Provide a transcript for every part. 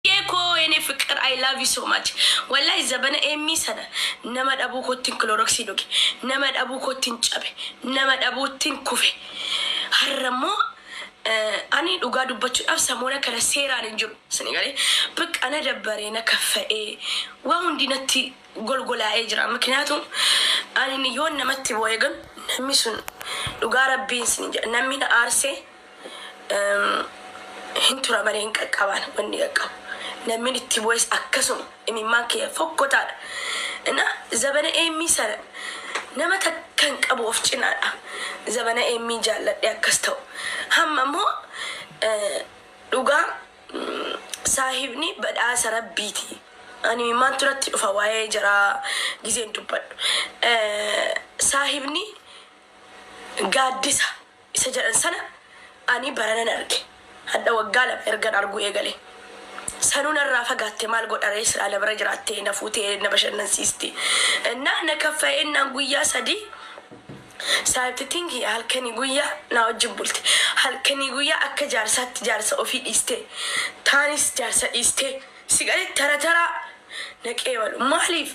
Tsiye koo yene fiqir I love you so much wallahi zabana Emmii sana nama dhabuu kottin kiloroksii dhuge nama dhabuu kottin cabe nama dhabuuttin kufe harra immoo Ani dhugaa dubbachudhaaf samoona kana seeraan hin jiru sini galee baqqa na dabbare na kaffa'ee waa hundi natti golgolaa'ee jira mikinaatu Ani yoon namatti boo'e gan namni sun dhugaa rabbiin sini jedha namni na aarsee Em, hin tura malee hin qaqqabaan wanni qaqqabu namni itti bu'es akkasuma imimmaan kiyya fokkotaadha na zabana eemmii sana nama takka hin qabu of cinaadha zabana eemmii jaalladhe akkas ta'u hamma immoo eh, dhugaa mm, saahibni badhaasa rabbiiti ani imimmaan turatti dhufa waa'ee jaraa gizeen dubbadhu Eh, saahibni gaaddisa isa jedhan sana ani baranan arge. Hadha waggaa lama ergan arguu eegale. Sanuu narraa fagaatte maal godharee silaa na bira jiraattee na fuutee na bashannansiisti. Ennaa na kaffa'e ennaan guyyaa sadii saayibti tingi halkanii guyyaa naa wajjin bulti. Halkanii guyyaa akka jaarsaatti jaarsa ofii dhiistee taanis jaarsa dhiistee si galee tara taraa na qeebalu. Maaliif?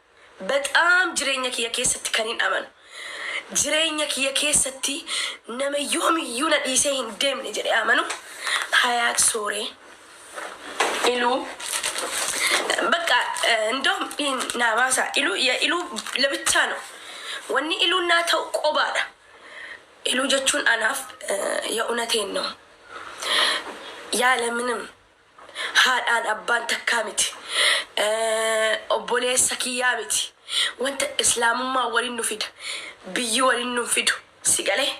Bexaam jireenya kiyya keessatti kanin amanu, jireenya kiyya keessatti nama yoomiyyuu na dhiisee hin deemne jedhee amanu Hayaat Sooree, Iluu, Baqqa indoom dhiin naa baasaa Iluu ya Iluu lebichaa no wanni Iluun naa ta'u qobaadha Iluu jechuun anaaf ya unateen no yaala minim. Haadhaan abbaan takkaa miti. Obboleessa kiyyaa miti. Wanta Islaamummaan walin nu fida. Biyyi walin nun fidu. Si galee?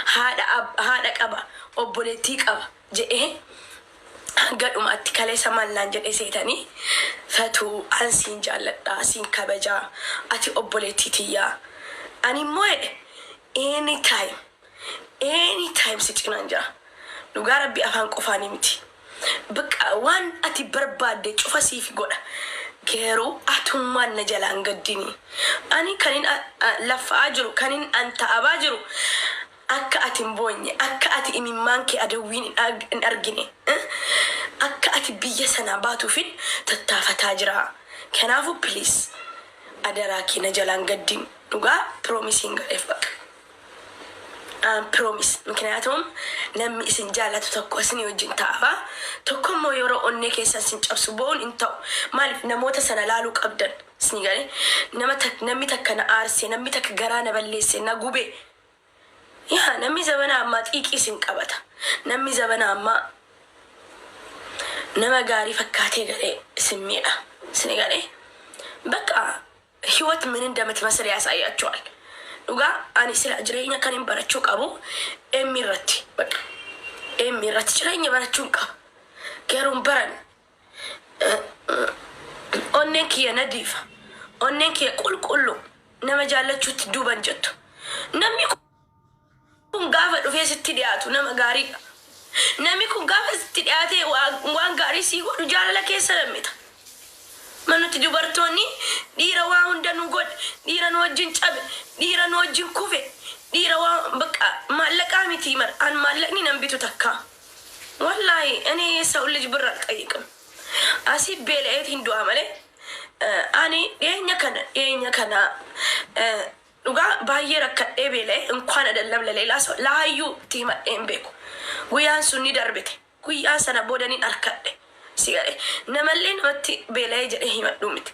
Haadha haadha qaba, obboleettii qaba jedhee hanga dhumaatti kaleessa maal naan jedhee seetanii? Fatuu an siin jaalladha, siin kabaja. Ati obboleettii tiyya. Animmoo jedhe any time Any time si cinaan jira. Dhugaa rabbii afaan qofaanii miti. Bqa waan ati barbaadde cufa siif godha. Garuu atummaan na jalaa hin gaddini. Ani kanin a- a- laffa'aa jiru, kanin an ta'abaa jiru akka ati hin boonye, akka ati imimmaan kee adawwiin hin arg- hin argine, eh, akka ati biyya sanaa baatuufin tattaafataa jira. Kanaafu please adaraa kee na jalaa hin gaddin. Dhugaa promise siin godheef baqa. An promise mikniyaatum nammi isin jaallatu tokko isini wajjin ta'afa tokkommoo yeroo onnee keessan isin cabsu boo'un hin ta'u maalif namoota sana laaluu qabdan isni gale nama tak nammi takka na aarse nammi takka garaa na balleesse na gube yaa nammi zabana ammaa xiiqii isin qabata nammi zabana ammaa nama gaarii fakkaatee galee isin miidha isni gale bakka hiwat min indamitmasal yaasaayaachwal dhugaa ani sila jireenya kanin barachuu qabu M irratti baqa M irratti jireenya barachuun qaba garuu hin baranne onneen kiyya nadiifa onneen kiyya qulqulluu nama jaallachuutti duuban jettu namni kun kun gaafa dhufee sitti dhiyaatu nama gaariidha. Namni kun gaafa sitti dhiyaatee waan gaarii sii godhu jaalala keessa lammita. Ma nuti dubartoonni dhiira waa hunda nu godhe, dhiira nu wajjin cabe, dhiira nu wajjin kufe, dhiira waa bakka maallaqaa miti bar an maallaqni nan bitu takka. Wallaahi ani sewul lij birr alxayyiqim. Asii beela'eetiin du'a malee ani dhiyeenya kana dhiyeenya kana Dhugaa baay'ee rakkadhee beela'ee inkwaan adallam laleelaa so laayyuu itti himadhee hin beeku. Guyaan sun ni darbite. Guyyaa sana booda nin arkadhe. Si galee? Namallee namatti beela'ee jedhee himadhuu miti.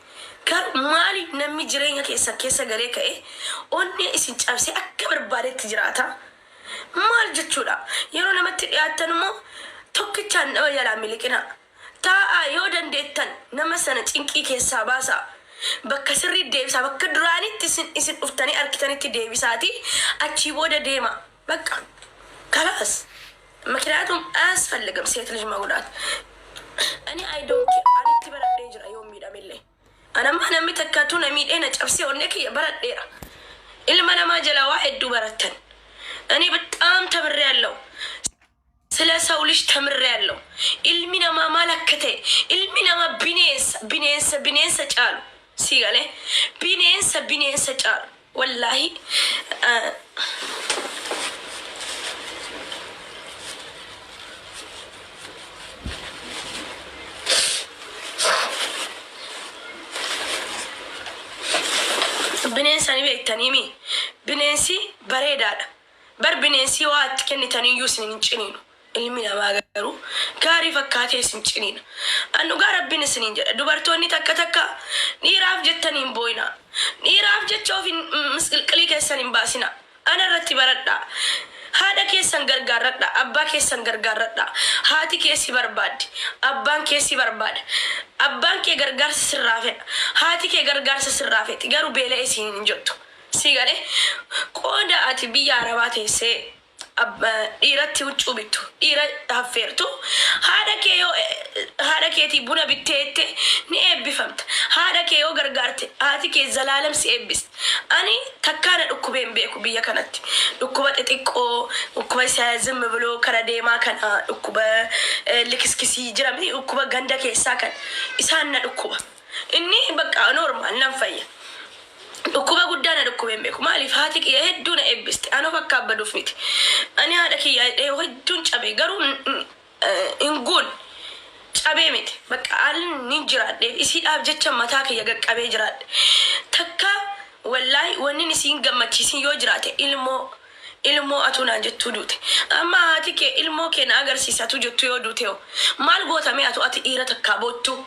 Garuu maaliif nammi jireenya keessan keessa galee ka'ee onnee isin cabsee akka barbaadetti jiraata? Maal jechuudha? Yeroo namatti dhiyaattan immoo tokkichaan nama jalaa miliqinaa. Taa'aa yoo dandeettan nama sana cinqii keessaa baasaa. Bakka sirriitti deebisaa. Bakka duraanitti isin isin dhuftanii arkitanitti deebisaatii achii booda deemaa. Baqqa. Kalaas. Mikniyaatum aayasfalligim seet lij magudaat. Ani I don't care. Ani itti baradhee jira yoon miidhamellee. Ani amma namni takka utuu na miidhee na cabsee onnee kiyya baradheera. Ilma namaa jalaa waa hedduu barattan. Ani baxxaam tamirreeallaw. Sila saw lij tamrreallo. Ilmi namaa maal akka ta'e, ilmi namaa bineensa, bineensa bineensa caalu. Sii galee? Bineensa bineensa caalu. Wallaahi Bineensa ni beektanii mii? Bineensi bareedaadha. Bar bineensii waa itti kennitan iyyuu isin hin ciniinu, ilmi namaa garuu gaarii fakkaatee isin ciniina. An dhugaa Rabbiin isiniin jedha, dubartoonni takka takka, Dhiiraaf jettanii hin booyinaa, dhiiraaf jecha of hin, misqilqilii keessan hin baasinaa, ana irratti baradhaa, haadha keessan gargaarradhaa, abbaa keessan gargaarradhaa, haati kee si barbaaddi, abbaan kee si barbaada, abbaan kee gargaarsa sirraa fedha, haati kee gargaarsa sirraa feeti, garuu beela'e isiniin hin jettu. Sii galee? Qooda ati biyya arabaa teessee dhiiratti huccuu bittu, dhiira haffeertu, haadha kee yoo haadha keetii buna bittee jette ni eebbifamta. Haadha kee yoo gargaarte haati kee zalaalam si eebbisti. Ani takkaa na dhukkubee hin beeku biyya kanatti. Dhukkuba xixiqqoo, dhukkuba isa zim biloo kara deemaa kana, dhukkuba likiskisii jira miti dhukkuba ganda keessaa kana. Isaan na dhukkuba. Inni bakka normal nan fayya. Dhukkuba guddaa na dhukkubee hin beeku. Maaliif haati kiyya hedduu na eebbiste. An of akka abbaduuf miti. Ani haadha kiyyaa hidhee hedduun cabee garuu hin guunne. Cabee miti. Bakka haalli nin jiraadheef isiidhaaf jecha mataa kiyya gad qabee jiraadhe. Takka wallaahi wannin isiin gammachiisin yoo jiraate ilmoo ilmoo atuu naan jettuu duute. Amma haati kee ilmoo kee na agarsiisi atuu jettuu yoo duutehoo maal goota mee atuu ati dhiira takkaa boottuu.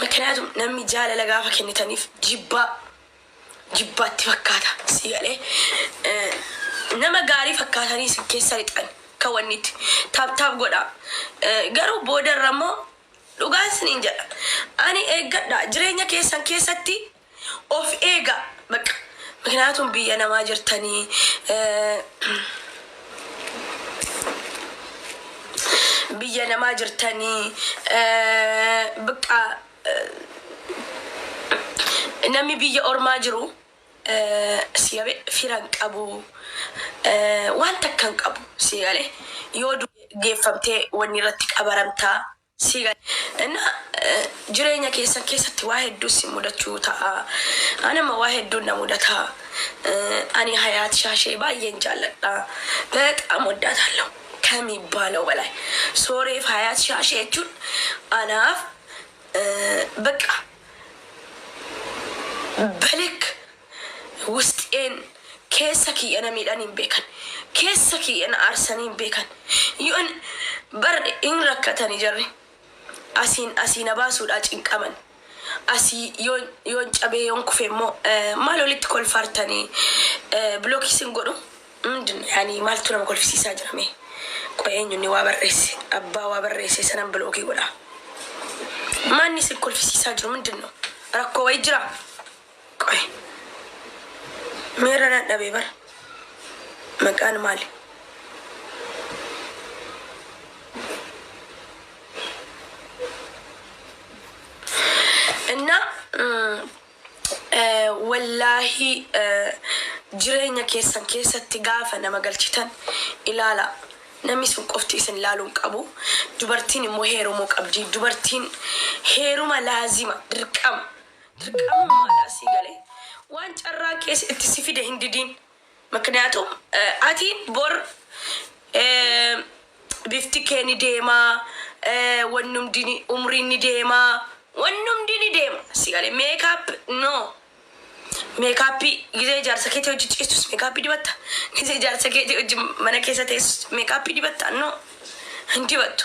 Mikniyaatum namni jaalala gaafa kennitanif jibbaa jibbaa itti fakkaata sii galee nama gaarii fakkaatanii isin keessa lixan ka wanni itti taap taap godha garuu boodarra immoo dhugaan isiniin jedha ani eeggadha jireenya keessan keessatti Of eega bakka mikniyaatum biyya namaa jirtanii biyya namaa jirtanii bqa namni biyya ormaa jiru siyabe firan qabu waan takkan qabu siyale yoo geeffamtee wanni irratti qabaramtaa. sii gale innaa jireenya keessan keessatti waa hedduu isin mudachuu ta'a an amma waa hedduun na mudata ani hayaat shaashee baay'een jaalladha bexaam waddaatallo kamiibbaalaw balaay sooreef hayaat shaashee jechuun anaaf beqqa belik Wusxeen, keessa kiyya na miidhanii hin beekan. Keessa kiyya na aarsanii hin beekan. Yoon bar hin rakkatani jarri. Asiin asii na baasuudhaa cinqaman. Asii yoon yoon cabee yoon kufe immoo maal walitti kolfaartanii block isin godhu mindin yani maaltu nama kolfisiisaa jira mee qoy eenyu inni waa barreesse abbaa waa barreesse sanan bilookii godha maanni isin kolfisiisaa jiru mindin no rakkoo wayi jira Qoy mee irra dadhabe bar maqaan maali? እና wallaahi jireenya keessan keessatti gaafa nama galchitan ilaala namni sun qofti isin ilaaluu hin qabu dubartiin immoo heerumuu qabdi dubartiin heeruma laazima dirqama Dirqamummaadhaan sii galee waan carraan kee itti si fide hin didiin. Mikniyaatum ati bor bifti kee ni deema, wanni hundi ni, umriin ni deema, wanni hundi ni deema. Si galee meekaap no. Meekaappii gizee jaarsa keetii wajjin ciistus meekaappii dibatta. Gizee jaarsa keetii wajjin mana keessa teessus meekaappii dibatta no. Hin dibattu.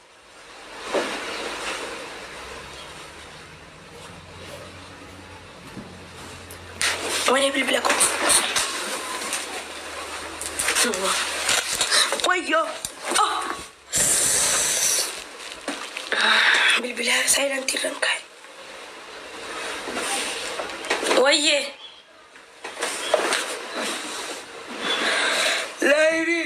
Wayne bilbila koo. Wayyoo. Oh. Bilbila saayilantii irra hin kaa'e. Wayyee. Laayinii.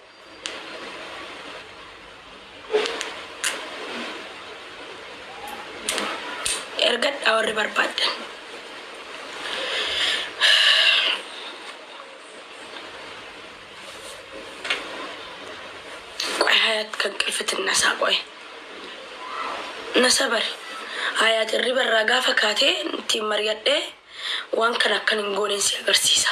ergadhaa warri barbaaddan. Qoy hayaat kan qilfitin nasaa qoy. Nasa bari. Hayaat irriba irraa gaafa kaatee ittiin mari'adhee waan kana akkan hin gooneen si agarsiisa.